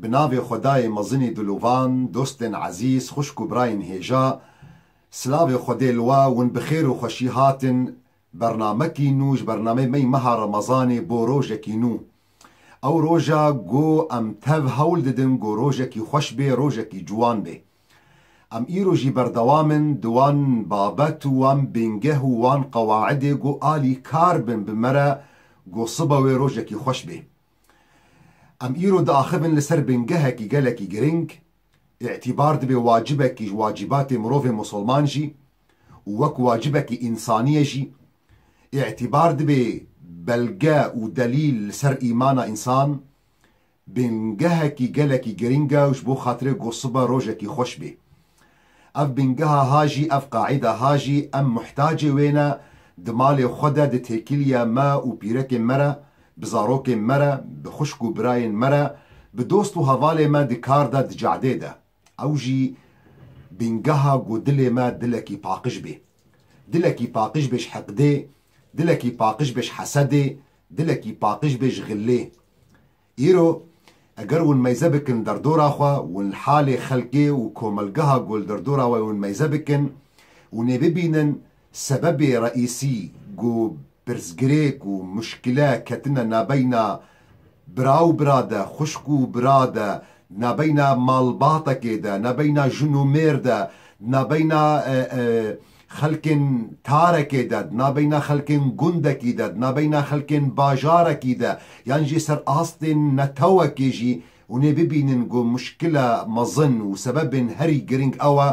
Bi navê Xwedayê mezinî dilovan, dostên ezîz, xwişk û birayên hêja, silavê Xwedê li we, hûn bi xêr û xweşî hatin bernamekî nû ji bernameyê me yê meha remezanê bo rojekî nû. Ew roja ku em tev hewl didin ku rojekî xweş bê, rojekî ciwan bê. Em îro jî berdewam in di wan babet û wan bingeh û wan qewaidê ku alî kar bin bi me re ku sibe wê rojekî xweş bê. Em îro diaxivin li ser bingehekî gelekî giring, îtîbar dibe wacibekî ji wacîbatê mirovê musulman jî û wek wacibekî însaniyê jî, îtîbar dibe belge û delîl li ser îmana însan, bingehekî gelekî giring e û ji bo xatirê Gosiba rojekî xweş bê. Ev bingeha ha jî ev qaîda ha jî em muhtacê wê ne, di malê xwe de, di têkiliya me û pîrekên me re, bi zarokên me re, bi xwişk û birayên me re, bi dost û hevalê me di kar de, di cadê de. Ew jî bingeha ku dilê me dilekî paqij bê. Dilekî paqij bê ji hiqdê, dilekî paqij bê ji hesedê, dilekî paqij bê ji xillê. Îro eger hûn meyze bikin derdora xwe, hûn li halê xelkê û komelgeha ku li derdora we hûn meyze bikin, hûn ê bibînin sebebê reîsî ku pirsgirêk û muşkile ketine nabeyna bira û bira de, xwişk û bira de, di nabeyna malbatekê de, nabeyna jin û mêr de, di nabeyna Xelkên tarekê de, di nabeyna xelkên gundekî de, di nabeyna xelkên bajarekî de yan jî ser astên netewekê jî hûnê bibînin ku muşkila mezin û sebebên herî girîng ew e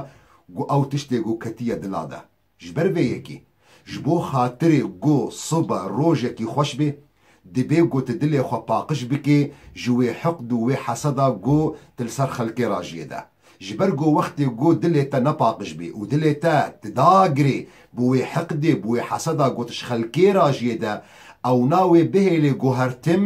ku ew tiştê ku ketiye dila de. Ji ber vê yekê, ji bo xatirê ku sibe rojekî xweş bê, Dibê ku tu dilê xwe paqij bikî ji wê hiqd û wê heseda ku tu li ser xelkê rajiyê de. Ji ber ku wextê ku dilê te nepaqij bî û dilê te tu da girê bi wê hiqdê, bi wê heseda ku tu ji xelkê rajiyê de, ewna wê bihêlê ku her tim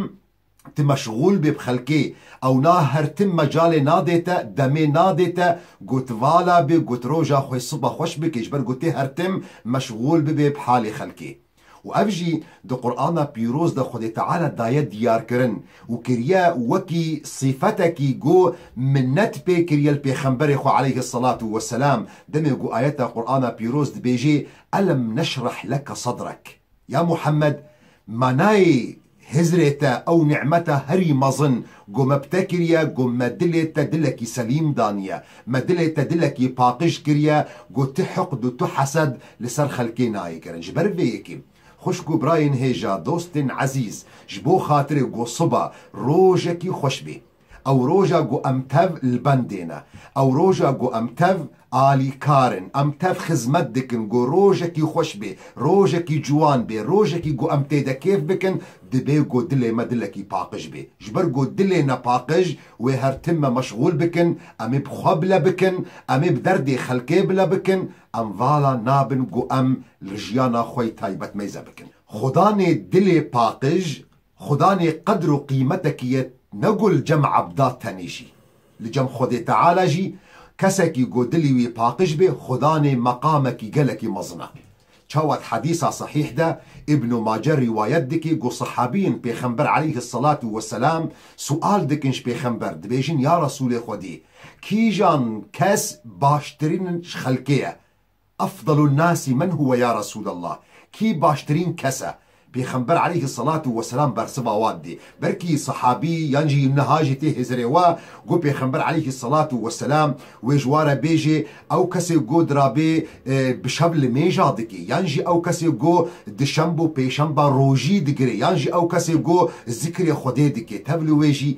tu meşxûl bê bi xelkê, ewna her tim mecalê nadê te, demê nadê te ku tu vala bê ku tu roja xwe siba xweş bikî ji ber ku tu her tim meşxûl bibê bi halê xelkê. û ev jî di Qur'ana pîroz de Xwedê Teala daye diyarkirin û kiriye wekî sîfetekî ku minnet pê kiriye li Pêxemberê xwe aleyhi selatû we selam demê ku ayeta Qur'ana pîroz dibêjê Elem neşrah leke sedrek ya Muhammed manayê Hizrê te ew nimeta herî mezin ku me bi te kiriye ku me dilê te dilekî selîm daniye, me dilê te dilekî paqij kiriye ku tu hiqd û tu hesed li ser xelkê nayê kirin. Ji ber vê yekê, xwişk û birayên hêja, dostên ezîz, ji bo xatirê Gosuba rojekî xweş bê. Ew roja ku em tev li bendê ne. Ew roja ku em tev alîkar in. Em tev xizmet dikin ku rojekî xweş bê, rojekî ciwan bê, rojekî ku em tê de kêf bikin, dibê ku dilê me dilekî paqij bê. Ji ber ku dilê nepaqij wê her tim me meşxûl bikin, em ê bi xwe bile bikin, em ê bi derdê xelkê bile bikin. Em vala nabin ku em li jiyana xwe yê taybet mêze bikin. Xudanê dilê paqij Xudanê qedr û qîmetekî ye ne ku li cem ebda tenê jî. Li cem Xwedê Teala jî kesekî ku dilî wî paqij be Xudanê meqamekî gelekî mezin e. Çawa di hedîsa sehîh de Îbnû Mace rîwayet dike ku sehabîyên Pêxember aleyhisselatu weselam sual dikin ji Pêxember dibêjin ya Resûlê Xwedî kîjan kes baştirîn ji xelkê ye Efdalun nasi men huwe ya Resûlallah, kî baştirîn kes e? Pêxember aleyhi selatu weselam bersiva wan dê. Belkî sehabî yan jî niha jî tê hêzirê we, got pêxember aleyhi selatu weselam wê ji wa re bêjê, ew kesê got dirabê bi şev li mêja dikê, yan jî ew kesê got duşemb û pêşemba rojî digirê, yan jî ew kesê got zikrê Xwedê dikê, tev li wê jî.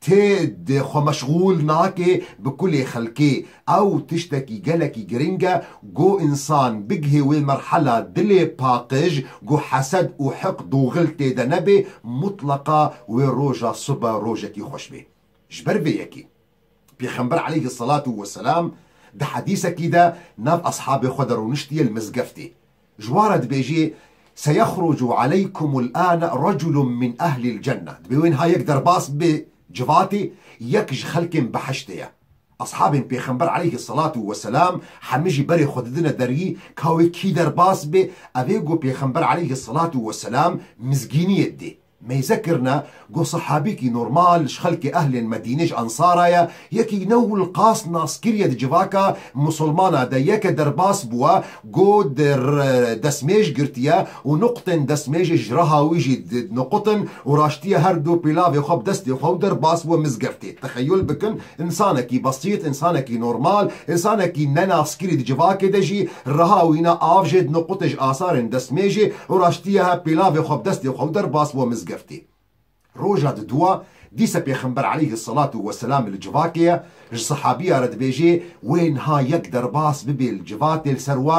Ti di xwe meşxûl nake bi kulê xelkê. Ew tiştekî gelekî girîng e ku însan bigihê wê merhela dilê paqij ku hesed û hiqd û xil tê de nebe, mutleqa wê roja sibe rojekî xweş be. Ji ber vê yekê Pêxember eleyhi selatû weselam di hedîsekî de nav eshabê xwe de rûniştiye li mizgeftê. Ji wan re dibêjî, Seyexrucu aleykumul ane reculun min ehlil cenne, dibê wê niha yek derbas bibe civatê, yek ji xelkên behiştê ye. Eshabên Pêxember aleyhi selatu weselam hemî jî berê xwe didine deriyî ka wê kî derbas bibe, ev ê ku Pêxember aleyhi selatu weselam mizgîniyê didê. Meyze kirine ku sehabîkî normal ji xelkê ehlên Medînê ji Ensara ye, yekî ne wil qas naskiriye di civaka Musulmana de yeke derbas bûwe ku di destmêj girtiye û nuqtên destmêjê ji reha wî jî dinoqutin û raştiye herdu pîlavê xwe bi destê xwe û derbas bûwe mizgeftê. Texeyul bikin Însanekî besît, însanekî normal, însanekî ne naskirî di civakê de jî reha wîna av jê di no qutê ji asarên destmêjê û raştiye he pêlavê xwe bi destê xwe û derbas bo mizgeftê. Roja di dûa, dîse pêxember eleyhi selatû we selamî li civakê ye, ji sehabîya re dibêjê, wê niha yek derbas bibê li civatê li ser we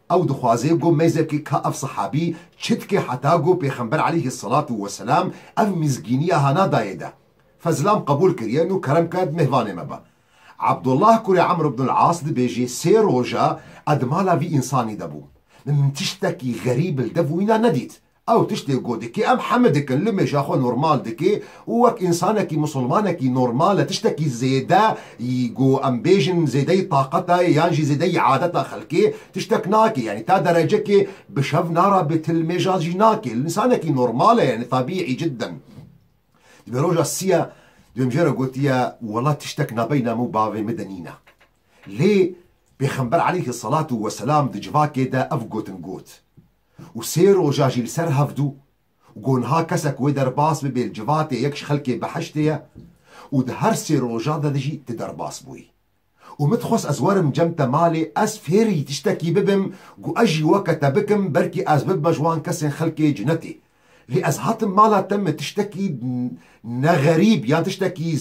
Ew dixwaze ku mêzekê ka ev sehabî çitke heta ku Pêxember aleyhî selatû weselam ev mîzgîniya hana dayê de. Fezlam qebûl kir yên û kerem kerd mêvanê me be. Abdullah kurê Amr ibn el As dibêjê sê roja ez di mala vî însanî de bûm. Min tiştekî xerîb li dev wîna nedît. Ew tiştê ku dike em heme dikin, li mêja xwe normal dike û wek însanekî misilmanekî normal e, tiştekî zêde yî ku em bêjin zêdeyî taqeta ye yan jî zêdeyî adeta xelkê tiştek nake yanî ta derecekê bi şev narabe til mêja jî nake însanekî normal e yanî tabîî cidden divê roja siya divê mijara gotiye wela tiştek nabeyna min û bavê min de nîne lê pêxember eleyhi selatû weselam di civakê de ev gotin got. û sê roja jî li ser hevdû û ku niha kesek wê derbas bibê li civatê yek ji xelkê behiştê ye û di her sê rojan de de jî tu derbas bûyî û min dixwest ez werim cem te malê ez fêrî tiştekî bibim ku ez jî weke te bikim belkî ez bibime ji wan kesên xelkê cinetê Lê ez hatim mala te min tiştekî ne xerîb yan tiştekî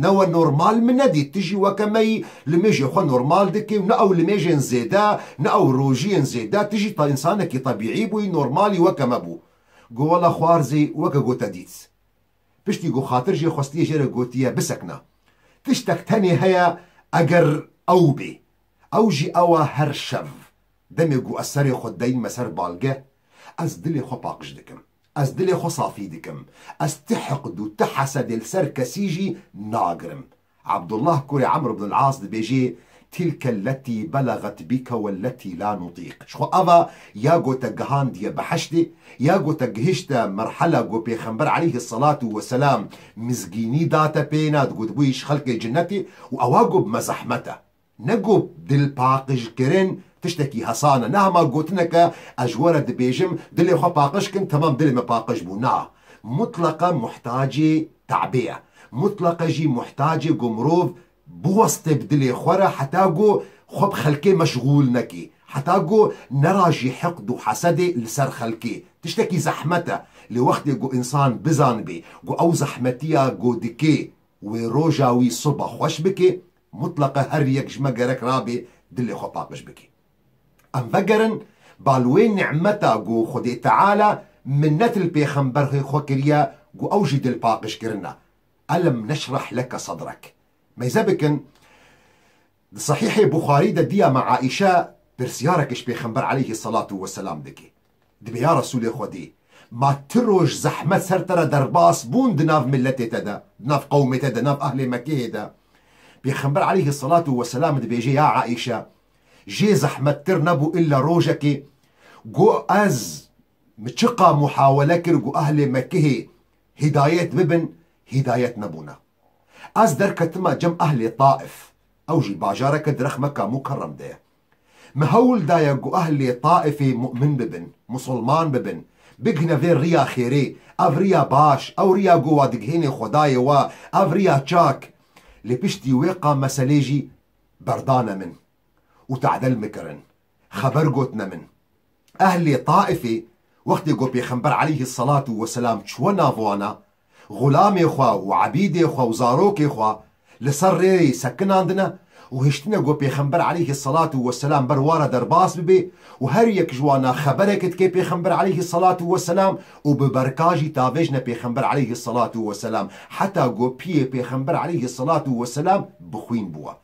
ne we normal min nedît. Tu jî weke me yî limêjê xwe normal dikî û ne ew limêjên zêde ne ew rojiyên zêde tu jî însanekî tebîî bûyî normalî weke me bû. Got wela xwar zî weke got te dît. Piştî got xatir jê xwestiye jê re gotiye bisekna. Tiştek tenê heye eger ew bê. Ew jî ew e her şev Demê ku ez serê xwe deyn me ser balgeh, ez dilê xwe paqij dikim. Ez dilê xwe safî dikim. Ez ti hiqd û ti hesedê li ser kesî jî nagirim. Abdullah kurê Amr ibn al-As dibêjê, Tilke elletî belagat bîke welletî la nutîq. Ji xwe ava ya ku te gihandiye beheştê, ya ku te gihişte merhela ku pêxember aleyhi selatû we selam mizgînî date pê, na digotibû îş xelkê cinetê û ewa ku bi me zehmet e. Ne ku dilpaqijkirin tiştekî hesan e, ne hema gotineke ez ji we re dibêjim dilê xwe paqij kin temam dilê me paqij bû na. Mutleqe muhtacê te'bê ye. Mutleqe jî muhtacê ku mirov biweste bi dilê xwe re heta ku xwe bi xelkê meşgûl nekê. Heta ku nerajî hiqd û hesedê li ser xelkê. Tiştekî zehmet e. Lê wextê ku însan bizanibê ku ew zehmetiya ku dikê wê roja wî soba xweş bikê, Mutleqa her yek ji me gerek rabe dilê xwe paqij bike. Em vegerin ba li wê nimeta ku Xwedê Teala minnet li Pêxemberhê xwe kiriye ku ew jî dilpaqij kirine, Elem neşrah leke sadrek. Mêze bikin, Di Sahîhê Buxarî de dîya me Aîşe pirsyarek ji Pêxember Eleyhî Selatu Weselam dike. Dibê ya Resûlê Xwedê, ma ti roj zehmet ser te re derbas bûn di nav miletê te de, di nav qewmê te de, nav ehlê Mekkeyê de. Pêxember aleyhî selatû we selam dibêje ya Aîşe, jê zehmettir nebû îlla rojekê ku ez min çiqa muhawele kir ku ehlê Mekkehê hîdayet bibin, hîdayet nebûne. Ez derketima cem ehlê Taif, ew jî bajareke di rexmeka Mukerrem de ye. Me hewl daye ku ehlê Taifê mu'min bibin, musulman bibin, bighne vê riya xêrê, ev riya baş, ew riya ku wa dighêne xwedayê we, ev riya çak. Lê piştî wê qam meselê jî berdane min û ta'del min kirin. Xeber gotine min. Ehlê Taifê wextê ku Pêxember aleyhis-selatu wes-selam çûye nav wan a, Xulamê xwe û ebîdê xwe û zarokê xwe li ser rê sekinandine û hiştine ku Pêxember aleyhî selatu weselam ber wan re derbas bibe û her yek ji wan a xeberek dike Pêxember aleyhî selatu weselam û bi berka jî tavêjine Pêxember aleyhî selatu weselam heta ku piyê Pêxember aleyhî selatu weselam bixwîn bûye.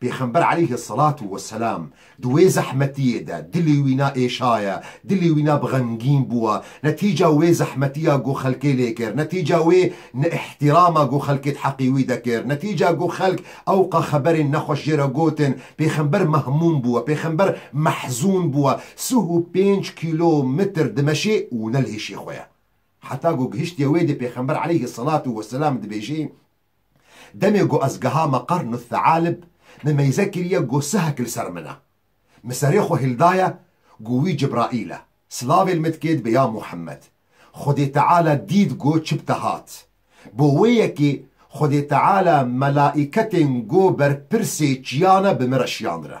Pêxember eleyhi selatu we selam di wê zehmetiyê de dilê wî na êşaye, dilê wî na bi xemgîn bûye, netîca wê zehmetiya ku xelkê lê kir, netîca wê neihtîrama ku xelkê di heqê wî de kir, netîca ku xelk ewqa xeberên nexweş jê re gotin, pêxember mehmûm bûye, pêxember mehzûn bûye, sih û pênc kîlo mitr dimeşê û ne li hêşê xwe ye. Heta ku gihiştiye wê dê pêxember eleyhi selatu we selam dibêjê. Demê ku ez gehama Qarn Thalib, me meyze kiriye ku sihek li ser min e. Min serê xwe hil daye ku wî Cibraîl e, silavê li min dike dibe ya Muhemmed. Xwedê Teala dît ku çi bi te hat. Bo wê yekê Xwedê Teala melaîketên ku berpirsê çiyan e bi min re şiyandine.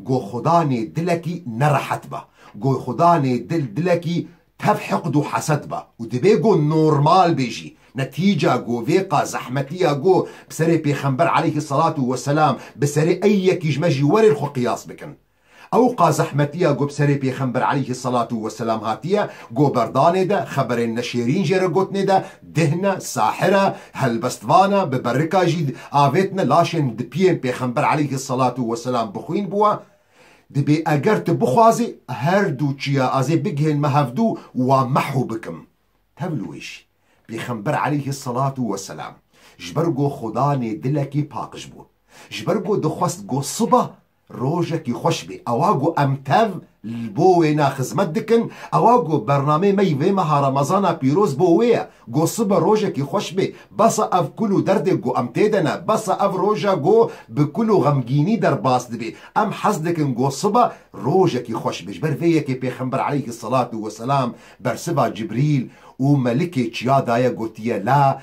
Go xuda nê dilekî nerehet be. Go xuda nê dil dilekî tev hiqd û heset be û divê go normal bê jî. Netîca go vê qas zehmetî ya go bi serê pêxember eleyhî selat û weselam bi serê ey yekî ji me jî werên xwe qiyas bikin. Ew qas zehmetî ya go bi serê pêxember eleyhî selat û weselam hatiye go berdanê de, xeberên neşêrîn jê re gotinê de, Dihna, sahira, helbestvana, bi berika jî avêtine laşên dipiyên Pêxember aleyhi salatu weselam bixwîn bûa, dibê eger tu bixwazî her du çiya azê bigihên me hevdu û wan mehu bikim. Tev li wê jî. Pêxember aleyhi salatu weselam ji ber go Xuda nê dilekî paqij bû. Ji ber go dixwest go siba Rojekî xweş bê. Ewa ku em tev li bo wêne xizmet dikin, ewa ku bernameyê me yê vê meha remezana pîroz bo wê ye. Ku sibe rojekî xweş bê. Besa ev kul û derdê ku em tê de ne. Besa ev roje ku bi kul û xemgînî derbas dibê. Em hez dikin ku sibe rojekî xweş be. Ji ber vê yekê Pêxember eleyhî selatû weselam bersiva Cibrîl û melikê çiya daye gotiye la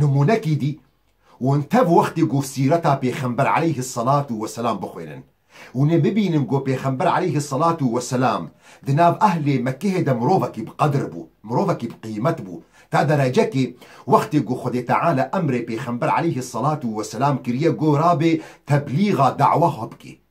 Nimûnekî dî, Hûn tev wextê ku sîreta Pêxember aleyhî selatû weselam bixwînin. Hûn ê bibînin ku Pêxember aleyhî selatû weselam di nav ehlê Mekkehê de mirovekî bi qedir bû, mirovekî bi qîmet bû ta derecekê wextê ku Xwedê Teala emrê Pêxember aleyhî selatû weselam kiriye ku rabê teblîga, dawa, xwe bikê.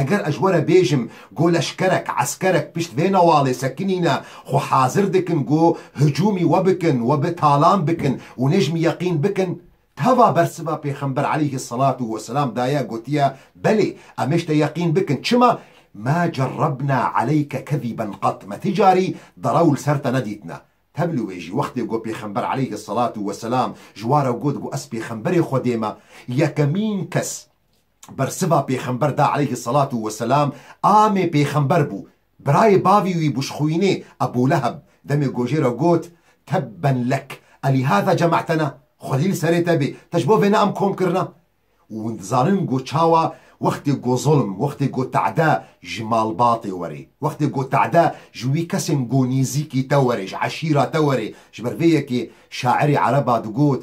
Eger ez were bêjim ku leşkerek, eskerek pişt vê nawalê sekinîne, xwe hazir dikin ku hicûmî we bikin, we bi talan bikin û nejm yeqîn bikin, teva bersiva Pêxember aleyhi salatu we selam daye gotiye, Belê, em ê ji te yeqîn bikin, çima, Ma cerrebna aleyke keziben qat, me ti carî derew li ser te nedîtine. Te bi li wê jî wextê ku Pêxember aleyhi salatu we selam ji ware got ku ez Pêxemberê Xwedê me, yekemîn kes, bersiva pêxember da aleyhi selatu we selam, amê pêxember bû. Birayê bavî wî bû ji xwînê, Ebû Leheb, demê gojê re got, Tebben lek, elîhâzâ cema'tena, xwedî li serê te bê, te ji bo vê ne em kom kirina? Û hûn dizanin got çawa, wextê got zulm, wextê got te'de ji malbatê werê, wextê got te'de ji wî kesên got nîzîkî te werê, ji eşîra te werê, ji ber vê yekê şairê ereba digot,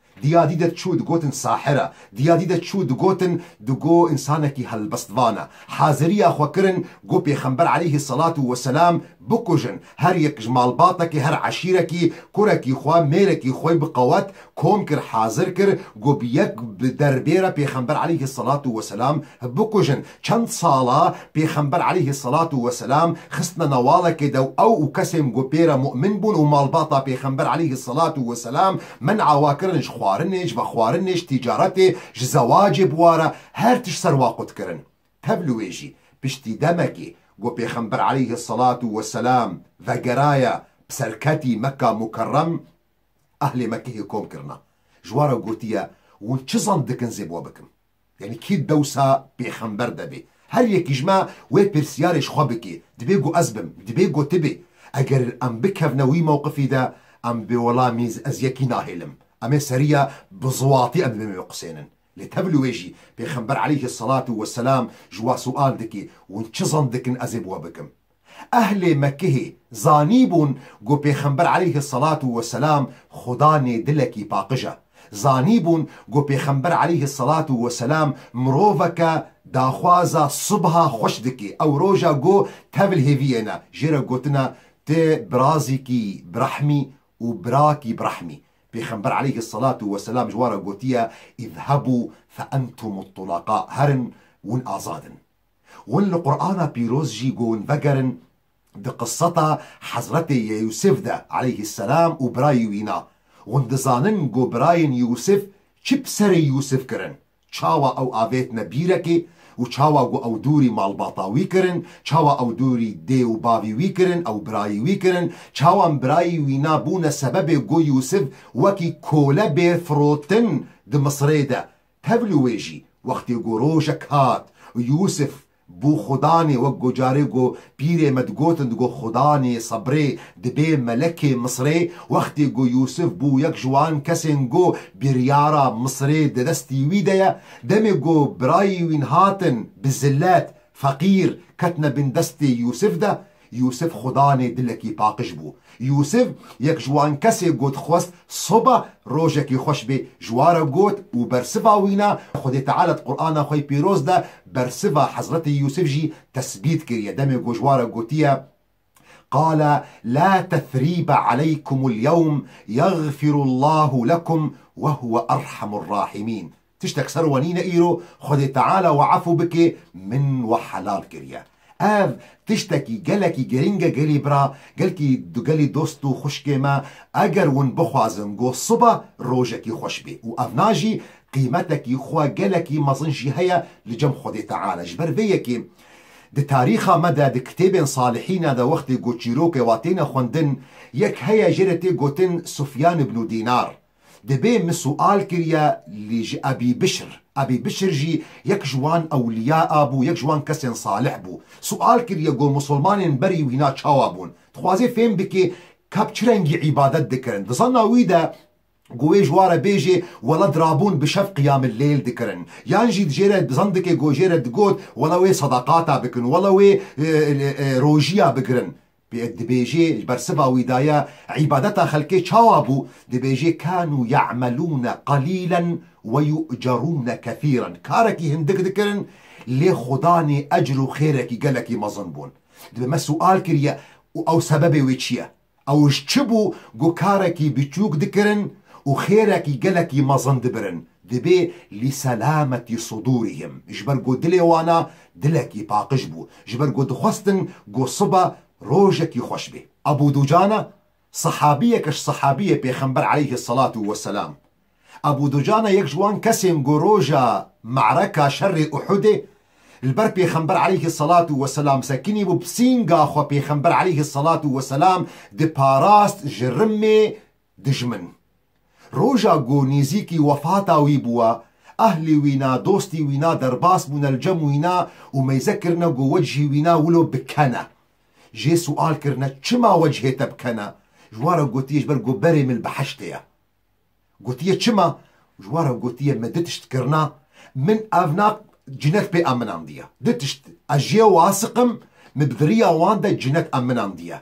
Diya dî de çû digotin sahir e, diya dî de çû digotin di go însanekî helbestvan e. Haziriya xwe kirin go Pêxember eleyhî selatû weselam bikujin. Her yek ji malbatekê, her eşîrekî, kurekî xwe, mêrekî xwe bi qewet kom kir, hazir kir go bi yek bi der bêre Pêxember eleyhî selatû weselam bikujin. Çend sala Pêxember aleyhî selatû weselam xistine nawalekê de û ew û kesên ku pê re mu'min bûn û malbata Pêxember aleyhî selatû weselam men awa kirin ji xwarinê, ji vexwarinê, ji tîcaretê, ji zewacê bi ware her tişt ser wa qut kirin. Tev li wê jî, piştî demekê ku Pêxember aleyhî selatû weselam vegeraye bi ser ketî Mekka Mukerrem, ehlê Mekkehê kom kirina. Ji we re gotiye, Hûn çi zend dikin zê bi we bikim? Yanî kî dewsa pêxember debê? Her yekî ji me wê pirsiyarê ji xwe bike, Dibê ku ez bim? Dibê ku tu bî? Eger em bikevne wî mewqifî de, em bi welamî ez yekî nahêlim. Em ê seriya bi ziwatî em li bin biqusênin. Lê te bilû wê jî, pêxember eleyhî selatû weselam ji we siwal dike, Hûn çi zend dikin ez ê bi we bikim? Ehlê Mekkehê zanîbûn ku Pêxember aleyhi selatû we selam xuda nê dilekî paqij e. Zanîbûn ku Pêxember aleyhi selatû we selam miroveke daxwaza subha xweş dike, ew roja ku tevl hêviyêne, jê re gotine Tu birazîkî birehmî û birakî birehmî. Pêxember aleyhi selatû we selam ji wan re gotiye, Îzhebû fe entum tulaqa, herin, hûn azad in. Hûn li Qur'ana pîroz jî gon vegerin di qiseta Hezretê Yeûsif de aleyhî selam û birayî wî na. Hûn dizanin go birayên Yeûsif çi bi serê Yeûsif kirin, çawa ew avêtine bîrekê û çawa go ew dûrî malbata wî kirin, çawa ew dûrî dê û bavî wî kirin ew birayî wî kirin, çawa em birayî wî na bûne sebebê go Yeûsif wekî kole bê firotin di Misirê de Tevlî wê jî wextê ku rojek hat û Yûsif bû Xudanê wek ku carê ku pîrê me digotin digot Xudanê sebrê dibê melekê Misirê wextê ku Yûsif bû yek ji wan kesên ku biryara Misirê di destî wî de ye demê ku birayî wîn hatin bi zilet, feqîr, ketine bin destê Yûsif de Yûsif xudanê dilekî paqij bû. Yûsif yek ji wan kesê ku dixwest soba rojekî xweş bê ji wan re got û bersiva wî ne, Xwedê Teala di Qur'ana xwe yê pîroz de bersiva Hezretê Yûsif jî tesbît kiriye demê ku ji wan re gotiye, Qale la tethrîbe aleykumul yewm yeghfirullahu lekum wehuwe erhamur rahimîn. Tiştek ser we nîne îro Xwedê Teala we efû bike min we helal kiriye. Ev tiştekî gelekî girîng e gelî bira, gelkî du gelî dost û xwişkê me eger win bixwazin go siba rojekî xweş bê û ev na jî qîmetekî xwe gelekî mezin jî heye li cem Xwedê Teala ji ber vê yekê di tarîxa me de di kitêbên salihîna de wextê ku çîrokê wa têne xwendin yek heye jê de tê gotin Sufyan ibnû Dînar Divê min sual kiriye lî ji Ebî Bişr. Ebî Bişr jî yek ji wan ewliya a bû, yek ji wan kesên salih bû. Sual kiriye got musulmanên berî wîna çawa bûn. Dixwazê fêm bike kap çi rengî îbadet dikirin. Di zanna wî de got wê ji wan re bêjê wela dirabûn bi şev qiyamilleyl dikirin. Yan jî di jê re zan dike got jê re digot wela wê sadaqata bikin, wela wê rojiya bigirin. Pê dibêjê li ber siva wî da ye, îbadeta xelkê çawa bû? Dibêjê kânû ye'melûne qalîlen ve yu'cerûne kethîren, karekî hindik dikirin lê xwedanê ecr û xêrekî gelekî mezin bûn. Dibe me sual kiriye û ew sebebê wê çi ye? Ew ji çi bû ku karekî biçûk dikirin û xêrekî gelekî mezin dibirin? Dibê lîselametî sudûrîhim, ji ber ku dilê wan a Dilekî paqij bû ji ber ku dixwestin ku siba rojekî xweş bê. Ebû Dujana sehabiyeke ji sehabiyê Pêxember aleyhi selatu we selam. Ebû Dujana yek ji wan kesên ku roja Me'reka, şerê Uhudê, li ber Pêxember aleyhi selatu we selam sekinî bû, bi sînga xwe Pêxember aleyhi selatu we selam diparast ji rimê dijmin. Roja ku nêzîkî wefata wî bûye, ehlê wî ne, dostî wî ne derbas bûne li cem wî ne û meyze kirine ku wecihî wî ne wilo bikene. Jê sual kirine çima wecihê te bikene? Ji wan re gotiye ji ber ku berê min li behiştê ye. Gotiye çima? Ji wan re gotiye me du tişt kirine, min ev ne cinet pê eminandiye. Du tişt ez jê asiqim, min bi diriya wan de cinet eminandiye.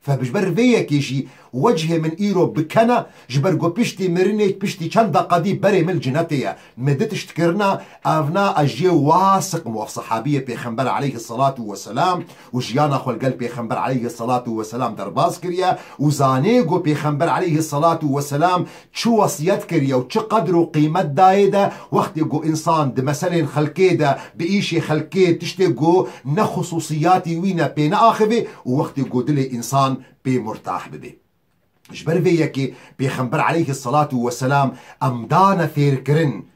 Fek ji ber vê yekê jî wecihê min îro bi ken e, ji ber ku piştî mirinê piştî çend deqadî berê min li cinetê ye. Me di tişt kirina, ev na ez ji yê wiha siqim waf sehabiyê pêxember aleyhi selatu we selam û jiyana xwe li gel pêxember aleyhi selatu we selam derbas kiriye û zanê ku pêxember aleyhi selatu we selam çi wesiyet kiriye û çi qedr û qîmet dayê de wextê ku însan di meselên xelkê de, di îşê xelkê tiştê ku ne xususiyatî wî ne pê neaxivê û wextê ku dilê însan pê murtah bibê. Ji ber vê yekê Pêxember aleyhî selatû weselam em dane fêrkirin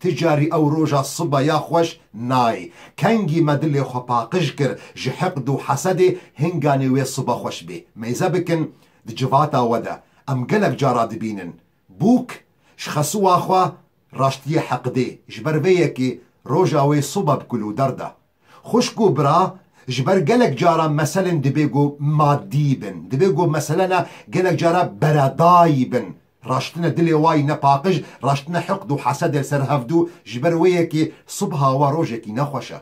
Ti carî ew roja siba ya xweş nayê. Kengî me dilê xwe paqij kir ji hiqd û hesedê hinganê wê siba xweş bê. Meyze bikin di civata we de em gelek cara dibînin. Bûk ji xesiwa xwe raştiyê heqdê. Ji ber vê yekê roja wê siba bi kulûder da. Xwişk û bira, ji ber gelek caran meselên dibê ku madî bin, dibê ku meselena gelek caran beredayî bin. Raştine dilê wayî ne paqij, raştine hiqd û hesedê li ser hev dû, ji ber wê ye ki subha we rojekî ne xweş e.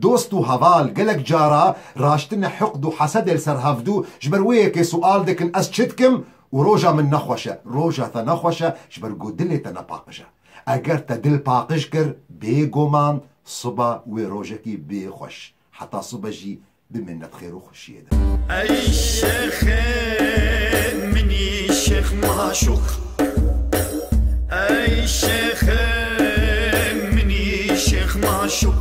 Dost û heval, gelek cara raştine hiqd û hesedê li ser hev dû, ji ber wê ye ki sual dikin ez çi dikim û roja min ne xweş e. Roja te ne xweş e ji ber ku dilê te ne paqij e. Eger te dil paqij kir, bêguman Siba wê rojekî bê xweş. Heta sibe jî bimîne di xêr û xweşiyê de. Ey şêxê minî şêx maşûq. Ey şêxê minî şêx maşûq.